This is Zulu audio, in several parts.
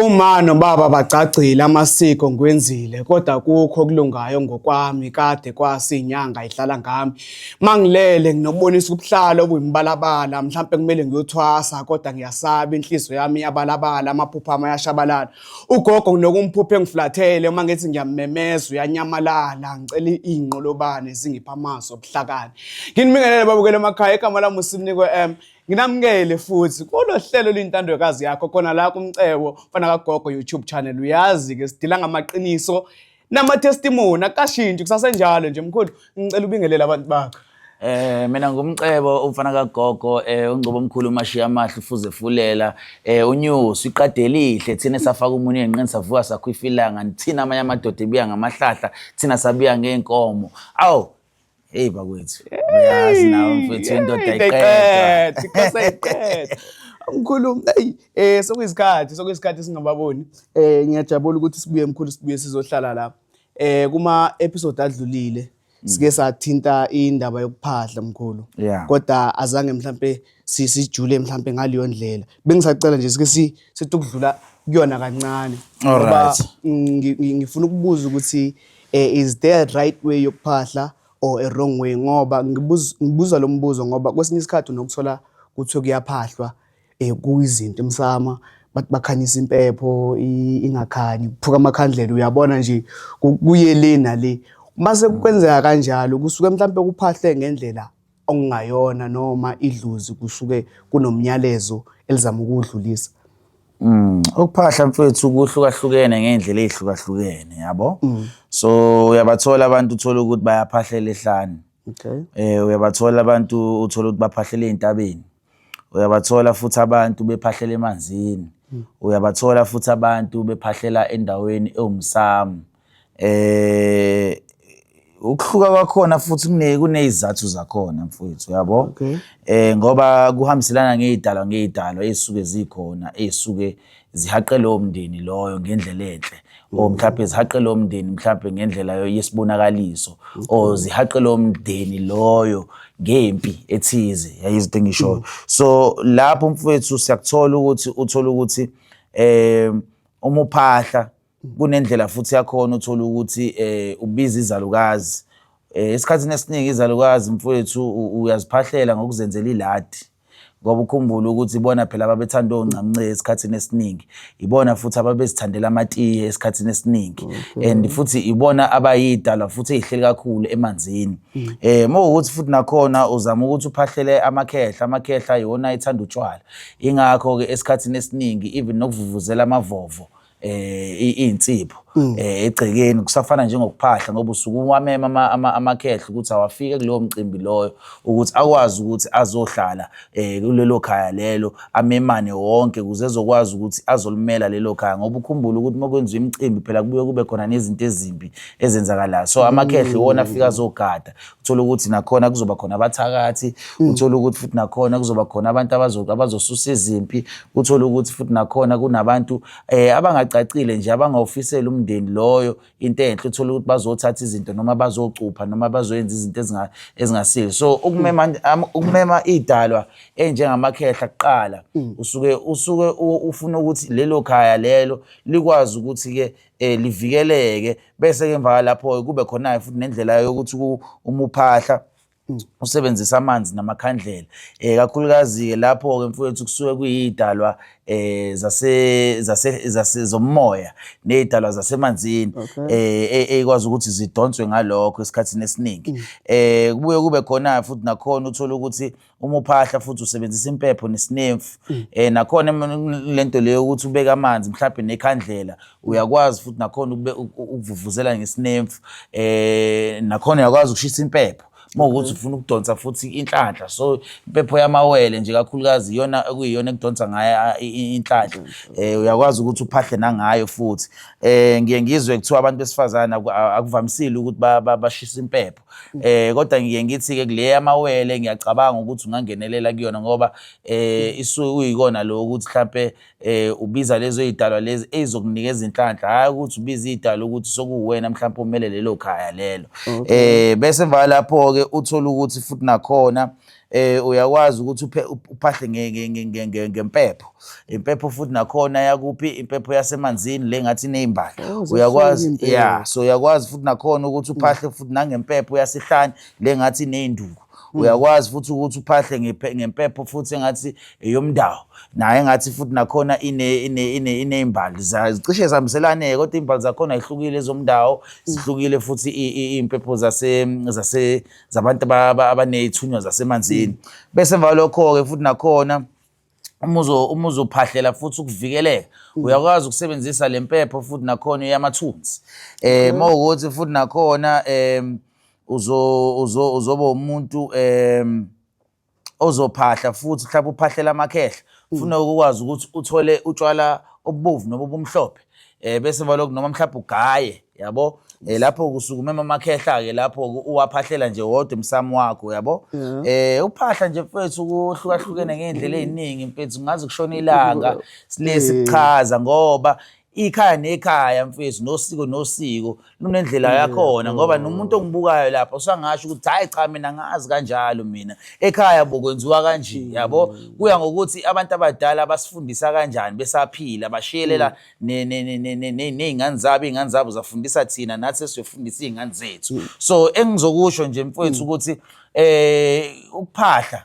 Uma nobaba bagcagcile amasiko ngiwenzile kodwa kukho okulungayo ngokwami kade kwasi inyanga idlala ngami mangilele nginokubonisa ubuhlalo obuyimibalabala mhlawumbe kumele ngiyothwasa kodwa ngiyasaba inhliziyo yami yabalabala amaphupha ama yashabalala ugogo nginokumphuphe engiflathele uma ngithi ngiyamemeza uyanyamalala ngicela izinqolobane zingipha amazi obuhlakani nginibingelele babukele emakhaya igama lami uSinikwe M Nginamukele futhi kulo hlelo lintandokazi yakho khona la kumcebo mfana kagogo YouTube channel uyazi ke sidila ngamaqiniso nama testimony akashintshi kusasenjalo nje mkhulu ngicela ubingelele abantu bakho Eh mina ngumcebo umfana kagogo eh ungcobo omkhulu umashiya amahle ufuze fulela eh unyusi iqade elihle thina safaka umuntu enqini savuka sakhwifilanga thina amanye amadoda ebuya ngamahlahla thina sabuya ngeenkomo awu Hey bakwethu. Uyazi nawe mfethu indoda iqeda. Ikhosa iqeda. Mkhulu, hey eh sokuyisikhathi, sokuyisikhathi singababoni. Eh ngiyajabula ukuthi sibuye mkhulu sibuye sizohlala la. Eh kuma episode adlulile sike sathinta indaba yokuphahla mkhulu. Yeah. Kodwa azange mhlambe sijule mhlampe ngaleyo ndlela bengisacela nje sike sithi ukudlula kuyona kancane ngoba ngifuna ukubuza ukuthi eh, is there a right way yokuphahla or a wrong way ngoba ngibuza lo mbuzo ngoba kwesinye isikhathi unokuthola kuthiwe kuyaphahlwa um kuyizinto emsama bathi bakhanyisa impepho ingakhanyi kuphuka amakhandlela uyabona nje kuye le nale uma sekukwenzeka kanjalo kusuke mhlawumpe kuphahle ngendlela okungayona noma idlozi kusuke kunomnyalezo elizama ukuwudlulisa Mm. Ukuphahla mfethu kuhlukahlukene ngey'ndlela ey'hlukahlukene yabo. Mm. So uyabathola abantu uthole ukuthi bayaphahlela ehlane. Okay. Eh uyabathola abantu uthole ukuthi baphahlela ey'ntabeni. uyabathola futhi abantu bephahlela emanzini hmm. uyabathola futhi abantu bephahlela endaweni ewumsamo eh ukuhluka kwakhona futhi kune kunezizathu zakhona mfowethu uyabo okay. eh ngoba kuhambiselana ngezidalwa ngezidalwa ezisuke zikhona ezisuke zihaqe lowo mndeni loyo ngendlela enhle or mm. mhlawumbe zihaqe lowo mndeni mhlawumbe ngendlela yesibonakaliso mm. or zihaqe lowo mndeni loyo ngempi ethize yayizinto engishoyo mm. so lapho mfowethu siyakuthola ukuthi uthola ukuthi um umuphahla kunendlela futhi yakhona uthola ukuthi eh ubiza izalukazi eh esikhathini esiningi izalukazi mfowethu uyaziphahlela ngokuzenzela iladi ngoba ukhumbule ukuthi ibona phela ababethanda ongcamnce esikhathini esiningi ibona futhi ababezithandela amatiye esikhathini esiningi mm-hmm. and futhi ibona abayidalwa futhi ezihleli kakhulu emanzini mm. eh mawukuthi futhi nakhona uzama ukuthi uphahlele amakhehla amakhehla yona ithanda utshwala ingakho ke esikhathini esiningi even nokuvuvuzela amavovo eh insipho mm. eh egcekeni kusafana njengokuphahla ngoba usuku uwamema amakhehla ukuthi awafike kuleyo mcimbi loyo ukuthi akwazi ukuthi azohlala eh kulelo khaya lelo amemane wonke kuze ezokwazi ukuthi azolimela lelo khaya ngoba ukhumbula ukuthi uma kwenziwa imicimbi phela kubuye kube khona nezinto ezimbi ezenzakalayo so amakhehla iwona afika azogada uthole ukuthi nakhona kuzoba khona abathakathi mm. uthole ukuthi futhi nakhona kuzoba khona abantu abazosusa izimpi uthole ukuthi futhi nakhona kunabantu eh abangacacile nje abangawufisela umndeni loyo into enhle uthole ukuthi bazothatha izinto noma bazocupha noma bazoyenza izinto ezingasile so ukumema mm. ukumema idalwa enjengamakhehla kuqala mm. usuke usuke ufuna ukuthi lelo khaya lelo likwazi ukuthi ke eh livikeleke bese ke emva lapho kube khona futhi nendlela yokuthi umuphahla mm. usebenzisa amanzi namakhandlela eh kakhulukazi ke lapho ke mfowethu kusuke kuyidalwa eh zase zase zase zomoya nezidalwa zasemanzini eh ekwazi e, ukuthi zidonswe ngalokho esikhathini esiningi mm. eh kubuye kube khona futhi nakhona uthola ukuthi uma uphahla futhi usebenzisa impepho nesinemfu mm. eh nakhona lento leyo ukuthi ubeka amanzi mhlawumbe nekhandlela uyakwazi futhi nakhona ukuvuvuzela ngesinemfu eh nakhona uyakwazi ukushisa impepho uma ukuthi ufuna ukudonsa futhi inhlanhla so impepho yamawele nje kakhulukazi iyona okuyiyona ekudonsa ngayo inhlanhla um uyakwazi ukuthi uphahle nangayo futhi um ngiye ngizwe kuthiwa abantu besifazane akuvamisile ukuthi bashise impepho eh kodwa ngiye ngithi ke kule yamawele ngiyacabanga ukuthi ungangenelela kuyona ngoba eh isu uyikona lo ukuthi mhlambe eh ubiza lezo izidalwa lezi ezizokunika izinhlanhla hayi ukuthi ubiza izidalwa ukuthi sokuwena mhlambe umele lelo khaya lelo eh bese emva lapho ke uthola ukuthi futhi nakhona eh uyakwazi ukuthi uphe uphahle ngempepho impepho futhi nakhona yakuphi impepho yasemanzini le ngathi nezimbali oh, uyakwazi yeah so uyakwazi futhi nakhona ukuthi uphahle futhi nangempepho yasihlani le ngathi nezinduku hmm. uyakwazi futhi ukuthi uphahle ngempepho futhi engathi eyomndawo naye engathi futhi nakhona ine ine ine inezimbali zicishe zihambiselane kodwa izimbali zakhona zihlukile ezomndawo hmm. zihlukile futhi impepho zase zase zabantu abaney'thunywa zasemanzini bese emva kwalokho-ke futhi nakhona uma uzophahlela futhi ukuvikeleka mm. uyakwazi ukusebenzisa le mpepho futhi nakhona eyamathunzi um eh, ma ukuthi futhi nakhona um uzoba umuntu um ozophahla futhi mhlawumbe uphahlela amakhehla hmm. funa ukwazi ukuthi uthole utshwala obubovu noma obumhlophe eh bese balokhu noma mhlawumbe ugaye yabo eh lapho kusuke umema amakhehla ke lapho uwaphahlela nje wodwa emsamo wakho yabo eh uphahla nje mfethu kuhlukahlukene ngeendlela eziningi mfethu ngazi kushona ilanga silesi kuchaza ngoba ikhaya nekhaya mfethu nosiko nosiko lunendlela yakhona ngoba nomuntu ongibukayo lapho usangasho ukuthi hayi cha mina ngazi kanjalo mina ekhaya bokwenziwa kanje mm. yabo kuya ngokuthi abantu abadala basifundisa kanjani besaphila bashiyelela mm. ney'ngane zabo iy'ngane zabo zafundisa thina nathi esiyofundisa iy'ngane zethu mm. so engizokusho nje mfethu ukuthi um ukuphahla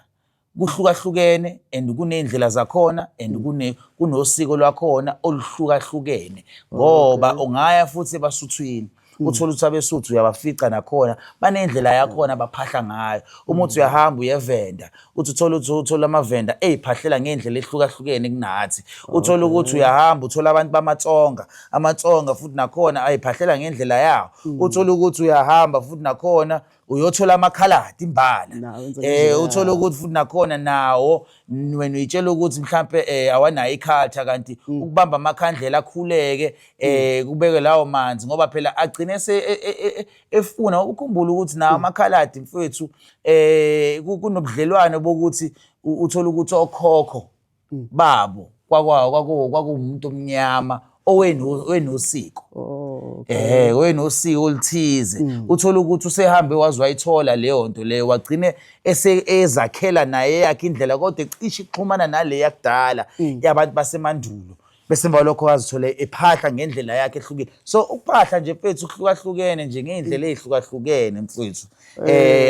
kuhlukahlukene and kuney'ndlela zakhona and mm. kunosiko lwakhona oluhlukahlukene ngoba ungaya futhi ebasuthwini mm. uthole ukuthi abesuthu uyabafica nakhona banendlela yakhona baphahla ngayo uma uthi mm. uyahamba uyevenda uthi uthole ukuthi uthole amavenda eyiphahlela ngendlela ehlukahlukene kunathi uthole ukuthi uyahamba uthole abantu bamatsonga amatsonga futhi nakhona ayiphahlela ngendlela yawo uthole ukuthi uyahamba futhi nakhona uyothola amakhaladi imbala Nawo enza eh kanjena. uthola ukuthi futhi nakhona nawo n- wena uyitshela ukuthi mhlambe eh awanayo ikhatha kanti Mm. ukubamba amakhandlela akhuleke eh kubeke lawo manzi ngoba phela agcine se e- e- e- e- efuna ukukhumbula ukuthi nawo Mm. amakhaladi mfethu eh ku- kunobudlelwane bokuthi u- uthola ukuthi okhokho mm. babo kwakwawo kwakuwo kwakuwumuntu omnyama owenosiko oh, eh owenosiko olithize mm. uthola ukuthi usehambe waze wayithola leyo nto leyo wagcine ezakhela naye yakhe indlela kodwa ecishe ixhumana nale yakudala mm. yabantu basemandulo bese emva lokho wazithole ephahla ngendlela yakhe ehlukile so ukuphahla nje mfethu kuhlukahlukene nje ngey'ndlela ey'hlukahlukene mfethu um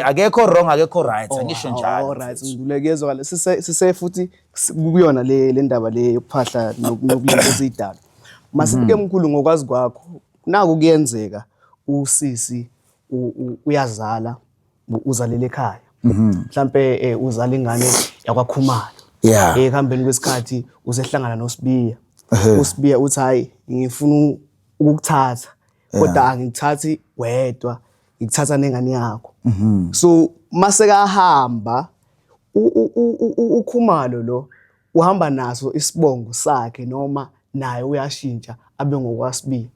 akekho wrong akekho right oh, angisho njaloalright ngikulekezwakale sise futhi kuyona le le ndaba le yokuphahla nokulento esiyidala masifike mhm. mkhulu ngokwazi kwakho naku kuyenzeka usisi uyazala uzalele ekhaya mhm. mhlampe eh, uzala ingane yakwakhumalo yeah ekuhambeni kwesikhathi usehlangana noSibiya uSibiya uthi hayi ngifuna ukukuthatha kodwa angikuthathi wedwa ngikuthatha nengane yakho mhm. so mase kahamba ukhumalo lo uhamba naso isibongo sakhe noma naye uyashintsha abe ngokwasibili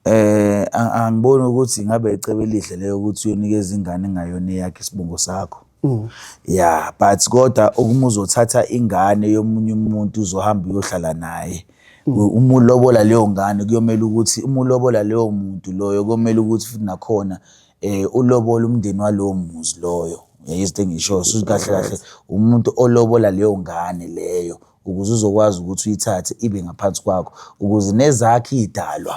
eh angiboni ukuthi ngabe icebo elihle leyo ukuthi uyonikeza ingane ngayona eyakhe isibongo sakho mm. yeah but kodwa ukuma uzothatha ingane yomunye umuntu uzohamba uyohlala naye mm. uma ulobola leyo ngane kuyomele ukuthi uma ulobola leyo muntu loyo kuyomele ukuthi futhi nakhona eh ulobola umndeni walowo muzi loyo yayizito engisho suthi kahle kahle umuntu olobola leyo ngane leyo ukuze uzokwazi ukuthi uyithathe ibe ngaphansi kwakho ukuze nezakhe idalwa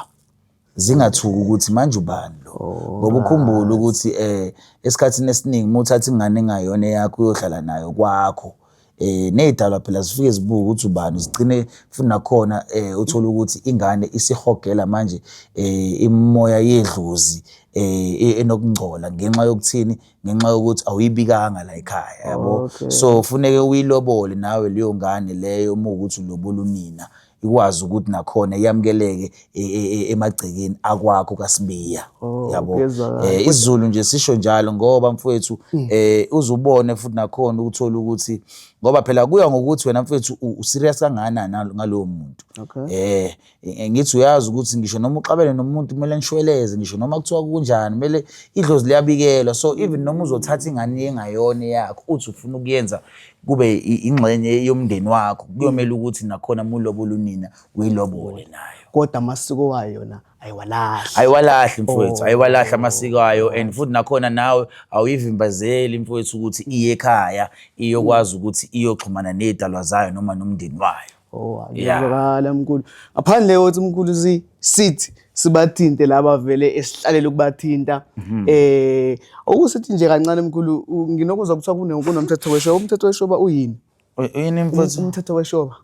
zingathuki ukuthi manje ubani lo oh, ngoba ukhumbule ukuthi eh esikhathini esiningi uma uthatha ingane engayona eyakho uyohlala nayo kwakho eh nezidalwa phela zifike zibuke ukuthi ubani zigcine futhi nakhona eh uthola ukuthi ingane isihogela manje eh imoya yedlozi eh e-, enokungcola ngenxa yokuthini ngenxa yokuthi awuyibikanga la ekhaya yabo so funeke uyilobole nawe leyo ngane leyo uma ukuthi ulobola unina ikwazi ukuthi nakhona yamukeleke e, e, e, emagcekeni akwakho kaSibiya oh, yabo eh isiZulu nje sisho njalo ngoba mfowethu hmm. eh uzubone futhi nakhona ukuthola ukuthi ngoba phela kuya ngokuthi wena mfowethu userious kangakanani ngalowo muntu eh, eh ngithi uyazi ukuthi ngisho noma uxabene nomuntu kumele nishweleze ngisho noma kuthiwa kunjani kumele idlozi liyabikelwa so even noma uzothatha ingane engayona yakho uthi ufuna ukuyenza kube ingxenye yomndeni wakho kuyomela mm. ukuthi nakhona mulobole unina uyilobole nayo kodwa amasiko wayo yona ayiwalahli ayiwalahli mfowethu oh. ayiwalahli amasiko ayo and futhi nakhona nawe awuyivimbazeli mfowethu ukuthi iye ekhaya iyokwazi mm. ukuthi iyoxhumana nezidalwa zayo noma nomndeni wayo Oh, Yeah. akuzwakala mkhulu. Ngaphandle kokuthi mkhulu si sithi sibathinte laba vele esihlalele ukubathinta. Mhm. Eh okusithi nje kancane mkhulu u- nginokuzwa kuthiwa kune kunomthetho weshoba. Umthetho weshoba uyini? Uy- Uyini Um- mfuthu? Umthetho weshoba.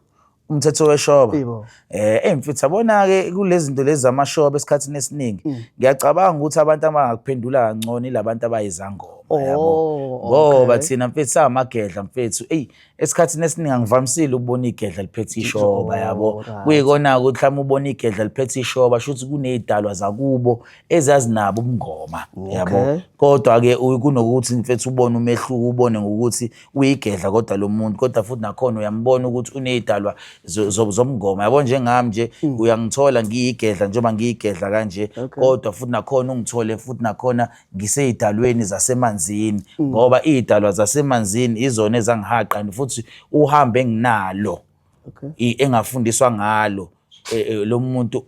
umthetho weshoba Yebo. eh hey mfuthu yabona ke kulezi zinto lezi zamashoba esikhathini esiningi Mm. ngiyacabanga ukuthi abantu abangakuphendula kangcono ilabantu abayizangoma yabo Oh, ngoba okay. thina mfethu samagedla mfethu eyi esikhathini esiningi angivamisile ukubona igedla liphethe ishoba yabo kuyikona ukuthi mhlawumbe ubona igedla liphethe ishoba shuthi kunezidalwa zakubo ezazinabo ubungoma yabo kodwa ke kunokuthi mfethu ubone umehluko ubone ngokuthi uyigedla kodwa lo muntu kodwa futhi nakhona uyambona ukuthi unezidalwa zomngoma yabo njengami nje hmm. uyangithola ngiyigedla njengoba ngiyigedla kanje kodwa futhi nakhona ungithole futhi nakhona ngiseyidalweni zasemanzini mm. ngoba iyidalwa zasemanzini izona ezangihaqa and futhi uhambe enginalo engafundiswa ngalo e, e, lo muntu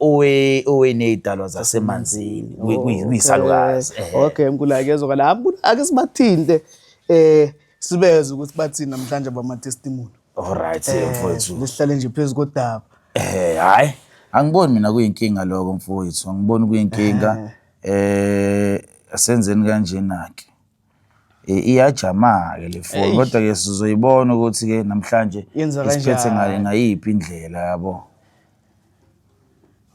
oweney'dalwa zasemanzini oh, kuyisalukazi okay mkhulu akezwa kana ake sibathinte um sibeze ukuthi bathini namhlanje bamatestimoni olright eh, mfowethu lihlale nje phezu kodaba um hhayi angiboni mina kuyinkinga loko mfowethu angiboni kuyinkinga eh. Eh asenzeni kanjena ke. Eh, iyajama ke le phone kodwa ke sizoyibona ukuthi ke namhlanje isiphethe ngale ngayiphi indlela yabo.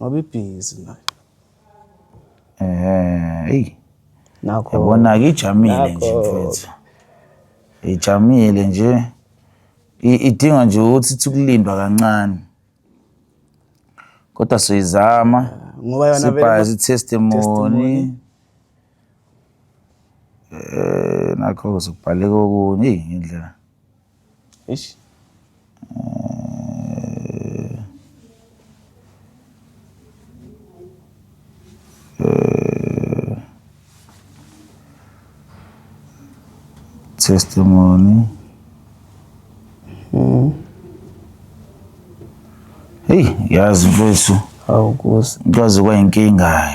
Ngoba ibhizi manje. Eh, hey. Nakho. Yabona ke ijamile nje mfethu. Ijamile nje. Idinga nje ukuthi sikulindwa kancane. kodwa soyizama ngoba yona vele sibhazi ma- testimony testimony. eh nakho kuzobhaleka okunye eyi indlela Eish. Eh, testimony mm. Hey, yazi mfethu awukuzi kwaze kwayinkinga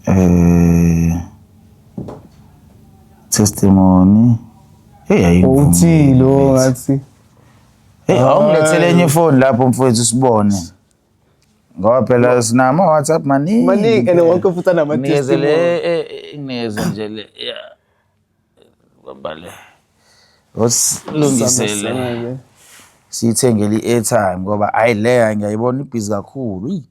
eh testimony hey ayivumi uthilo ngathi hey awungilethele enye ifoni lapho mfowethu sibone ngoba phela sinama WhatsApp maningi maningi and wonke futhi anama testimony eh, eh, eh, ngeze nje le bambale osilungisele siyithengele i-airtime ngoba hayi leya ngiyayibona ibhizi kakhulu yi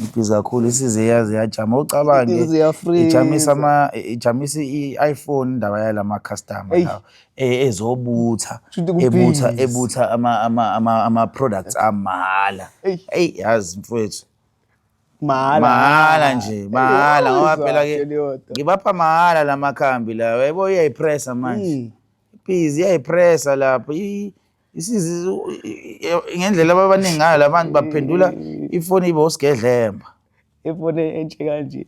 ibhizi kakhulu isize yaze yajama ucabange ijamisa ama ijamisa i-iphone indaba yalama customer lawo e- ezobutha Shuthi ku ebutha busy. ebutha ama ama ama, ama products amahhala Eyi. hey yazi mfowethu mahhala mahhala nje mahhala ngoba phela ke ke ngibapha mahhala lamakhambi lawa yebo iyayipressa manje Mm. please iyayipressa lapho i- ngendlela ababaningi ngayo la bantu baphendula ifoni ibe usigedlemba ifoni entshe kanje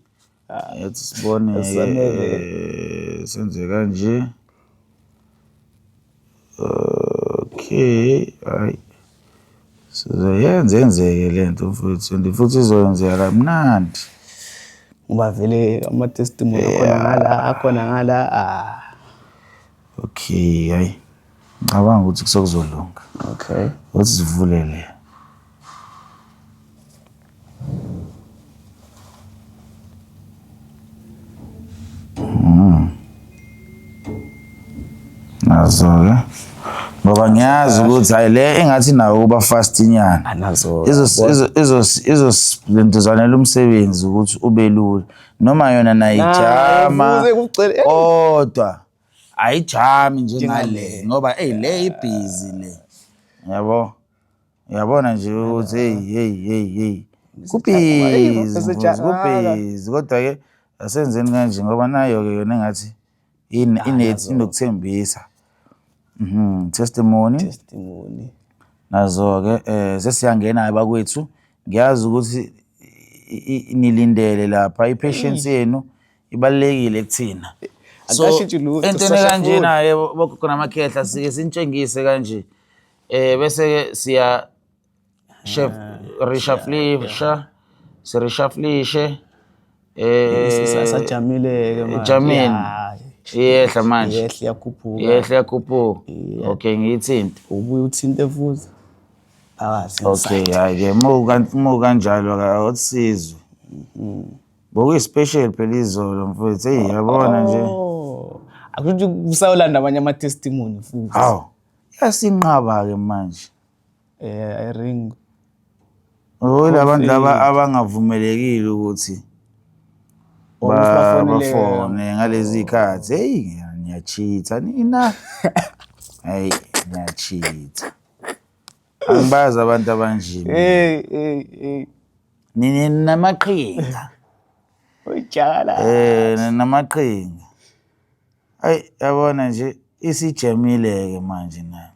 yathi sibone eh, senze kanje okay hayi sizoyenza enzeke le nto mfowethu and futhi izoyenzeka kamnandi ngoba vele ama-testimony akhona ngala akhona ngala ah. Okay, hayi. Ngicabanga ukuthi kusokuzolunga. Okay. Uthi sivulele. Mm. Nazo ke. Ngoba ngiyazi ukuthi hayi le engathi nawo kuba fast inyana. Anazo. Ah, Izo izo izo izo lentuzanela umsebenzi ukuthi ubelula. Noma yona nayijama. Kodwa. ayijami njengale ngoba eyi le ibhizi le yabo uyabona nje ukuthi heyi heyi heyi heyi kubhizi kubhizi kodwa-ke asenzeni kanje ngoba nayo-ke yona engathi inethi inokuthembisa mhm testimony testimony nazo-ke um sesiyangena-ke bakwethu ngiyazi ukuthi nilindele lapha i-patience yenu ibalulekile kuthina so Akashintshi lutho, entweni sisasha kanjena yebo bogogo namakhehla sike sinitshengise kanje eh bese ke siya chef reshaflisha sireshaflishe eh sajamile-ke manje. Jamile. Ya, iyehla manje yehla iyakhuphuka yehla yakhuphuka okay ngiyithinte ubuye uthinte futhi phakathi okay hayi ke mu kan- mu kanjalo ka awusizwe Bokuyi special phela izolo mfowethu. Hey yabona nje. Oh. Akuthi kusayolanda abanye ama testimony futhi. Haw. Yasinqaba ke manje. Eh I ring. Oh labantu laba abangavumelekile ukuthi bafone ngalezi khathi. Hey ngiyachitha nina. Hey ngiyachitha. angibazi abantu abanje hey hey hey nini namaqhinga ujala eh namaqhinga ay yabona nje isijamile ke manje na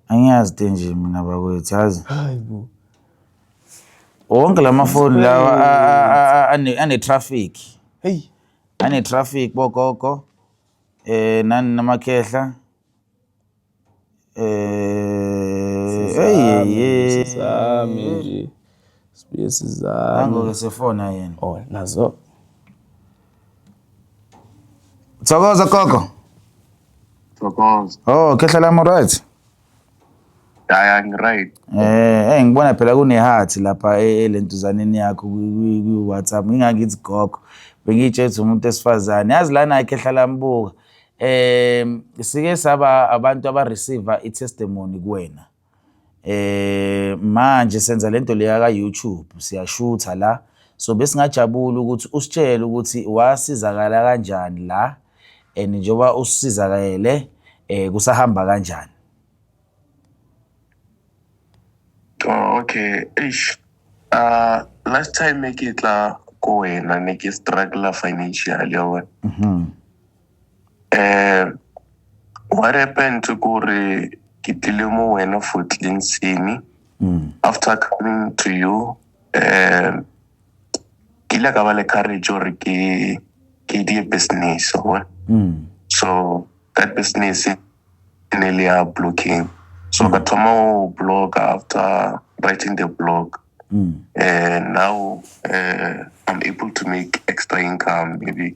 angiyazi te nje mina bakwethu yazi hayibo wonke lamafoni lawa ane traffic hey ane traffic bogogo eh nani namakhehla Thokoza gogo. Thokoza. Oh, khehla lami right. Yaya ngiryt. Eh, hey ngibona phela kuneheart lapha e, elentuzaneni yakho ku WhatsApp. Ngingakithi gogo. Bengitshethe umuntu esifazane. Yazi lana ikhehla lami buka. um sike saba abantu abareceiva i-testimony kuwena eh manje senza lento leya ka YouTube siyashutha la so besingajabula ukuthi usitshele ukuthi wasizakala kanjani la and njengoba usizakele eh kusahamba kanjani oh, okay eish uh last time ngikitla kuwena ngistruggle financially yabona mhm Eh, what happened to Kuri Kitilimo Wena for Clean Sini? Mm. After coming to you, eh, kila ka ba le courage gore ke ke die business o bona Mm. so that business e ne le ya blocking so ka thoma o blog after writing the blog Mm. and now uh, i'm able to make extra income maybe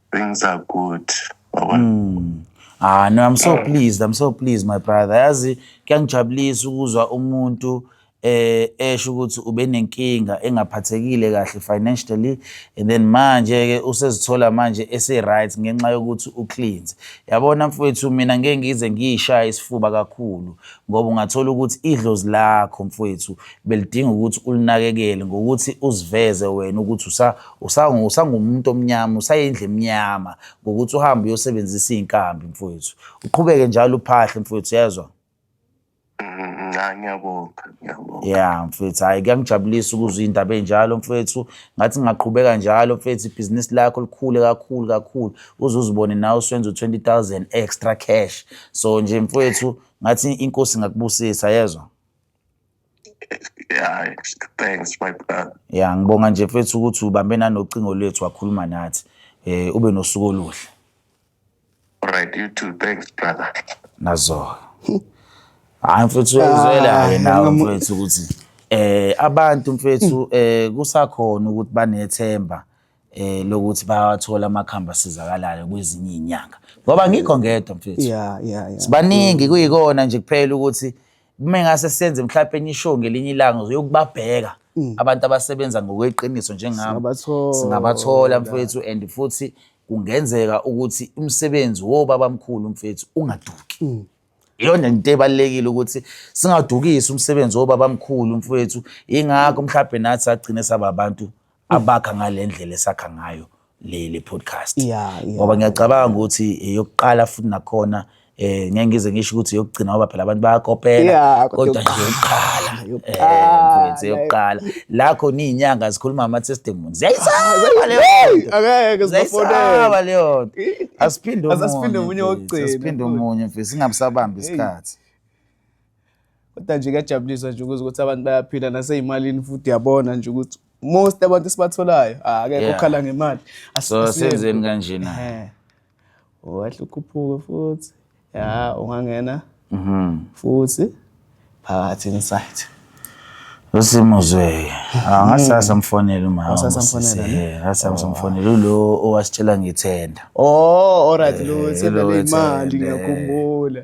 things are good mm. ah no i'm so pleased i'm so pleased my brother yazi kuyangijabulisa ukuzwa umuntu eh esho ukuthi ube nenkinga engaphathekile kahle financially and then manje ke usezithola manje ese right ngenxa yokuthi u cleanse yabona mfowethu mina ngeke ngize ngiyishaya isifuba kakhulu ngoba ungathola ukuthi idlozi lakho mfowethu belidinga ukuthi ulinakekele ngokuthi uziveze wena ukuthi usa usangumuntu omnyama usayindlu emnyama ngokuthi uhambe uyosebenzisa iy'nkambi mfowethu uqhubeke njalo uphahle mfowethu yezwa ngiyabonga ngiyabonga ya mfethu hhayi kuyangijabulisa ukuzwa iy'ndaba ey'njalo mfethu ngathi ngingaqhubeka njalo mfethu ibhizinisi lakho likhule kakhulu kakhulu uze uzibone nawe usenza u-twenty thousand extra cash so nje mfethu ngathi inkosi ingakubusisa yezwa Yeah, thanks my brother. Ya ngibonga nje mfethu ukuthi ubambe nanocingo lwethu wakhuluma nathi. Eh ube nosuku oluhle. Alright, you too. Thanks brother. Nazo. Hayi mfethu uyizwela Ah, yena noma- mfethu ukuthi eh abantu mfethu eh kusakhona ukuthi banethemba eh lokuthi bayawathola amakhamba asizakalayo kwezinye inyanga. Ngoba ngikho ngedwa mfethu. Yeah, yeah, yeah. Sibaningi kuyikona nje kuphela ukuthi uma engase senze mhlawumpe enye ishow ngelinye ilanga uzokubabheka mm. abantu abasebenza ngokweqiniso njengami singabathola mfethu and futhi kungenzeka ukuthi umsebenzi wobaba mkhulu mfethu ungaduki mm. iyona into ebalekile ukuthi singadukisi umsebenzi wobaba mkhulu mfethu ingakho mhlawumbe nathi sagcine saba abantu abakha ngalendlela esakha ngayo le le podcast yeah, yeah. ngoba ngiyacabanga ukuthi eyokuqala futhi nakhona eh ngeke ngize ngisho ukuthi yokugcina ngoba phela abantu bayakopela yeah, kodwa nje yokuqala eh mfethu yokuqala la khona izinyanga zikhuluma ama testimony ziyayisaba leyo akeke sibafonela leyo nto asiphinde umunye asiphinde umunye wokugcina asiphinde umunye mfethu singabusabambi isikhathi kodwa nje kuyajabulisa nje ukuzwa ukuthi abantu bayaphila naseyimalini futhi yabona nje ukuthi most abantu esibatholayo ah, akekho Yeah. okhala ngemali Asi- so asiyenzi. senzeni kanjena Eh. wahle ukhuphuke futhi ya ungangena Mhm. futhi phakathi inside usimuzweke Ah, ngasasa mfonele umama Ngasasa mfonela, usisi. ne? Eh, ngasasa mfonele ulo owasitshela ngithenda oh alright lo Eh, sendele lo imali ethende. ngiyakhumbula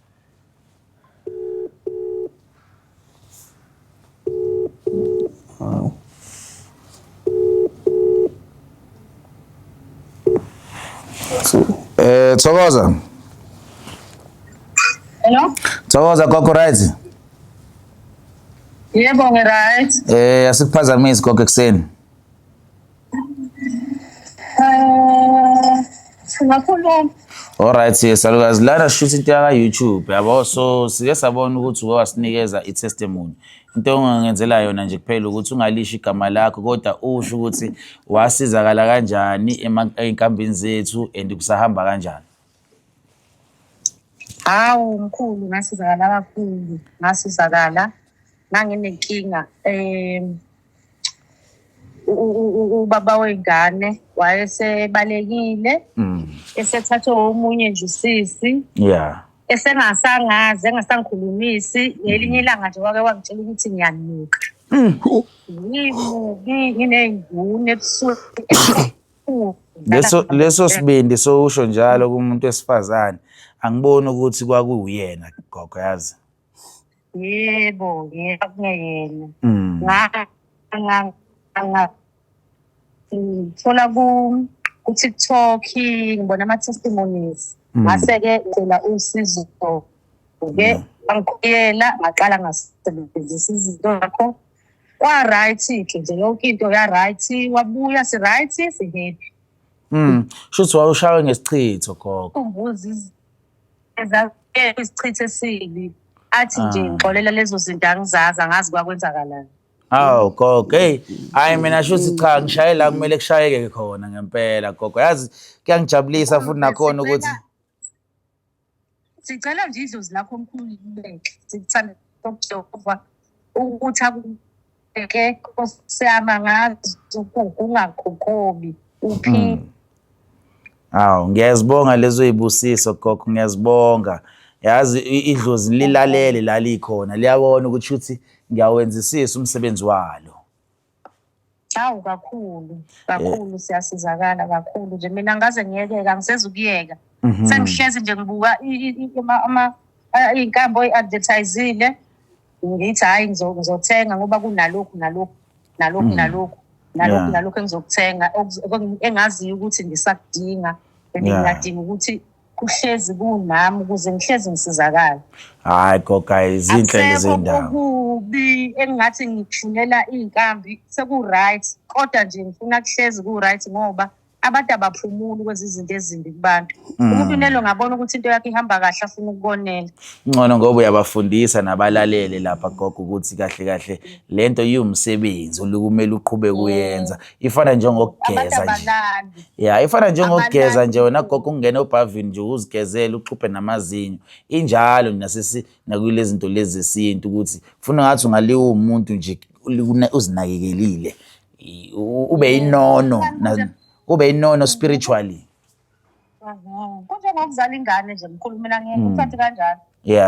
Eh, Thokoza. Hello? Thokoza gogo right? Yebo ngi right. Eh, asikuphazamisi gogo ekseni. Eh, singakhuluma. Alright salukazi lana shuthi into yaka YouTube yabo so sike sabona ukuthi uke wasinikeza i testimony into ongangenzela yona nje kuphela ukuthi ungalisho igama lakho kodwa usho ukuthi wasizakala kanjani ezinkambini zethu and kusahamba kanjani Hawu mkhulu ngasizakala kakhulu ngasizakala nganginenkinga um ubaba wey'ngane wayesebalekile mm. esethathwe omunye nje usisi ya esengasangazi engasangikhulumisi ngelinye mm. ilanga nje wake wangitshela ukuthi ngiyanuka mm. ngimubi nginey'nguni ebusweni leso leso sibindi sowusho njalo kumuntu wesifazane angiboni ukuthi kwakuwuyena gogo yazi yebo yebo kuyena mm. ngithola ku ku-tiktok ngibona ama-testimonies mm. ngase-ke ngicela usizo ke mm. angikhuyela ngaqala ngasebenzisa izinto zakho kwa-right ke nje yonke into ya-right wabuya si-right si-happy Mm. Shuthi wawushawe ngesichitho gogo. Umbuzi ezakekho isichitho esibi. Athi nje ah. ngixolela lezo zinto angizazi angazi kwakwenzakalani. Awu gogo, hey, hayi mina shuthi cha ngishaye la kumele kushayeke khona ngempela gogo. Yazi kuyangijabulisa futhi nakhona ukuthi sicela nje idlozi lakho omkhulu libeke sikuthanda okujehova ukuthi akubeke osiyama ngazo ungaguqubi uphile hmm. awu ngiyazibonga lezo yibusiso gogo ngiyazibonga yazi idlozi lilalele lalikhona liyabona ukuthi shuthi ngiyawenzisisa umsebenzi walo Hawu kakhulu kakhulu siyasizakala kakhulu nje mina ngaze ngiyekeka ngiseza ukuyeka Mhm. sengihlezi nje ngibuka i- i- i- ama- ama- a- iy'nkambo oyi-advertisile ngithi hhayi ngizo- ngizothenga ngoba kunalokhu nalokhu nalokhu Mm. nalokhu nalokhu Yeah. nalokhu engizokuthenga okuz- okung- engaziyo ukuthi ngisakudinga and Yeah. ngingadinga ukuthi kuhlezi kunami ukuze ngihlezi ngisizakala hayi goga izinhle lezindawo kubi engingathi ngithunela izinkambi seku right kodwa nje ngifuna kuhlezi ku right ngoba abantu abaphumuli kwenza izinto ezimbi kubantu mm. umuntu unelo ngabona ukuthi into yakhe ihamba kahle afuna ukukonela ngcono ngoba uyabafundisa nabalalele lapha gogo ukuthi kahle kahle lento iwumsebenzi olukumele uqhube kuyenza ifana njengokugeza nje ya ifana njengokugeza nje wena gogo ungene obhavini nje uzigezele uxhuphe namazinyo injalo nasisi nakulezi zinto lezi zesintu ukuthi funa ngathi ungaliwa umuntu nje uzinakekelile ube inono ube inono spiritually mhm. kunjengokuzala ingane nje mkhulu mina ngeke mm. uthathe kanjalo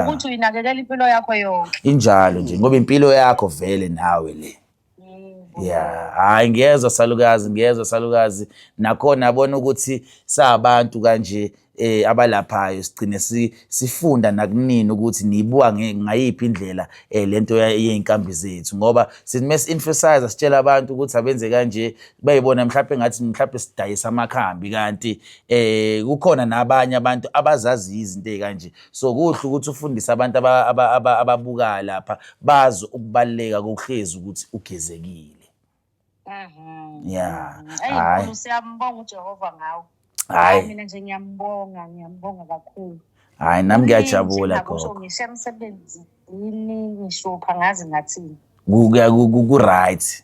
ukuthi uyinakekela impilo yakho yonke injalo nje ngoba impilo yakho vele nawe le Yeah, hayi ngiyezwa salukazi, ngiyezwa salukazi. Nakhona abona ukuthi sabantu kanje eh abalaphayo sigcine si, sifunda nakunini ukuthi niyibuka ngayiphi indlela eh lento yeinkambi zethu ngoba sithi mase emphasize sitshela abantu ukuthi abenze kanje bayibona mhlawumbe ngathi mhlawumbe sidayisa amakhambi kanti eh kukhona nabanye abantu abazazi izinto ezikanje so kuhle ukuthi ufundise abantu ababukayo lapha bazi ukubaluleka kokuhlezi ukuthi ugezekile mhm. ya hayi siyambonga ujehova ngawo hayi mina nje ngiyambonga ngiyambonga kakhulu hayi nami ngiyajabula gogo ngisho emsebenzini ngisho phangazi ngathini ku-right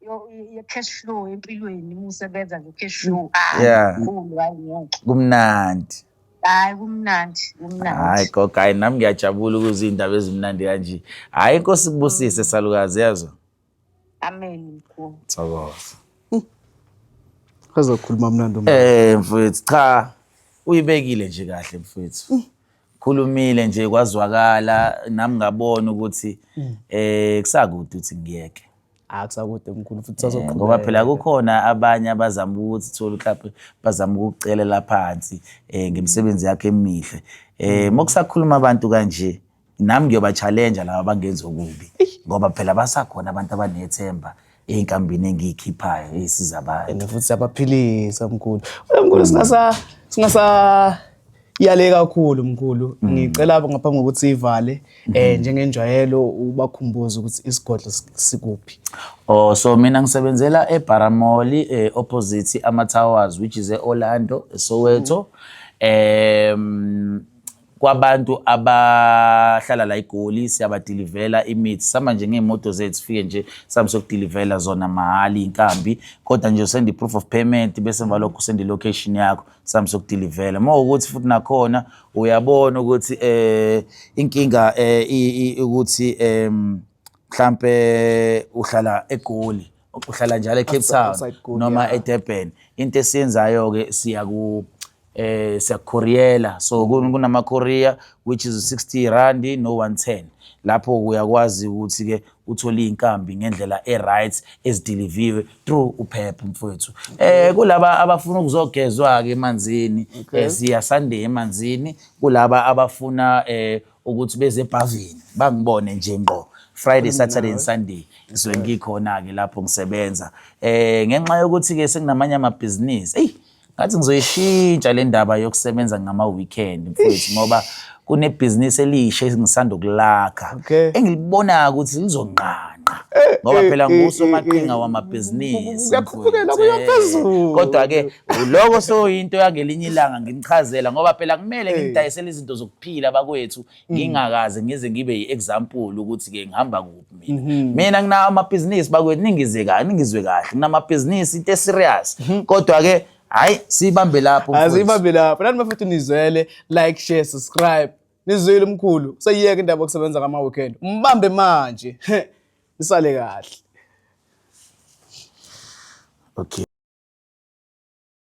yo- ye-cash flow empilweni uma usebenza nge-cash flow hayi Yeah. mkhulu hayi ngeke kumnandi hayi kumnandi hayi kumnandi gogo hayi nami ngiyajabula ukuze iy'ndaba ezimnandi kanje hhayi inkosi kubusise salukazi yazo amen mkhulu thokoza Azokhuluma mnandi um. Eh mfowethu cha uyibekile nje kahle mfowethu. Khulumile nje kwazwakala nami ngabona ukuthi eh kusakude uthi ngiyeke. akusakude mkhulu futhi Eh, ngoba phela sazoqhubeka kukhona abanye abazama ukuthi thola mhlawumbe bazama ukukucelela phansi eh ngemisebenzi yakhe emihle eh mokusakhuluma abantu kanje nami ngiyoba challenge laba bangenza okubi ngoba phela basakhona abantu abanethemba einkambini engiyikhiphayo esiza abantu and futhi siyabaphilisa mkhulu Wena mkhulu singasa singasa Iyale kakhulu mkhulu. Mm. Ngicela ngaphambi kokuthi ivale eh mm-hmm. njengenjwayelo ubakhumbuza ukuthi isigodlo sikuphi. Oh so mina ngisebenzela eBaramoli eh opposite ama Towers which is eOrlando eSoweto. Em kwabantu abahlala la igoli siyabadilivela imithi sama nje ngeemoto zethu sifike nje sami sokudilivela zona mahali inkambi kodwa nje send i-proof of payment bese emva lokho send i-location yakho sami sokudilivela uma ukuthi futhi nakhona uyabona ukuthi eh inkinga eh ukuthi em mhlambe uhlala egoli uhlala njalo eCape Town noma eDurban into esiyenzayo ke siya ku eh siyakhoriyela so kunama Korea which is 60 rand no 110 lapho uyakwazi ukuthi ke uthole iy'nkambi ngendlela e-right ezidiliviwe through uphepha mfowethu um kulaba abafuna ukuzogezwa-ke emanzini okay. Eh, siya sunday emanzini kulaba abafuna um ukuthi beze ebhavini bangibone nje ngqo Friday, Saturday and Sunday ngisuke ngikhona-ke lapho ngisebenza um ngenxa yokuthi-ke sekunamanye amabhizinisi eyi ngathi ngizoyishintsha le ndaba yokusebenza ngama-weekend mfowethu ngoba kunebhizinisi elisha engisanda ukulakha Okay. engilibonayo ukuthi lizonqanqa Eh, ngoba eh, phela eh, ngusomaqhinga eh, wamabhizinisi kuyakhuphukelwa, mfowethu. kuya phezulu. kodwa-ke uloko soyinto yangelinye ilanga ngimchazela ngoba phela kumele ngimdayisele izinto zokuphila bakwethu Mm. ngingakaze ngize ngibe yi-example ukuthi-ke ngihamba kuphi mina mhm. mina nginawo amabhizinisi bakwethu ningize kahle ningizwe kahle nginamabhizinisi into eserious mhm. kodwa-ke hhayi siyibambe lapho siyibambe lapho nani bafethu nizwele like share subscribe nizwile umkhulu seyiyeke indaba yokusebenza kama-weekend umbambe manje nisale kahle okay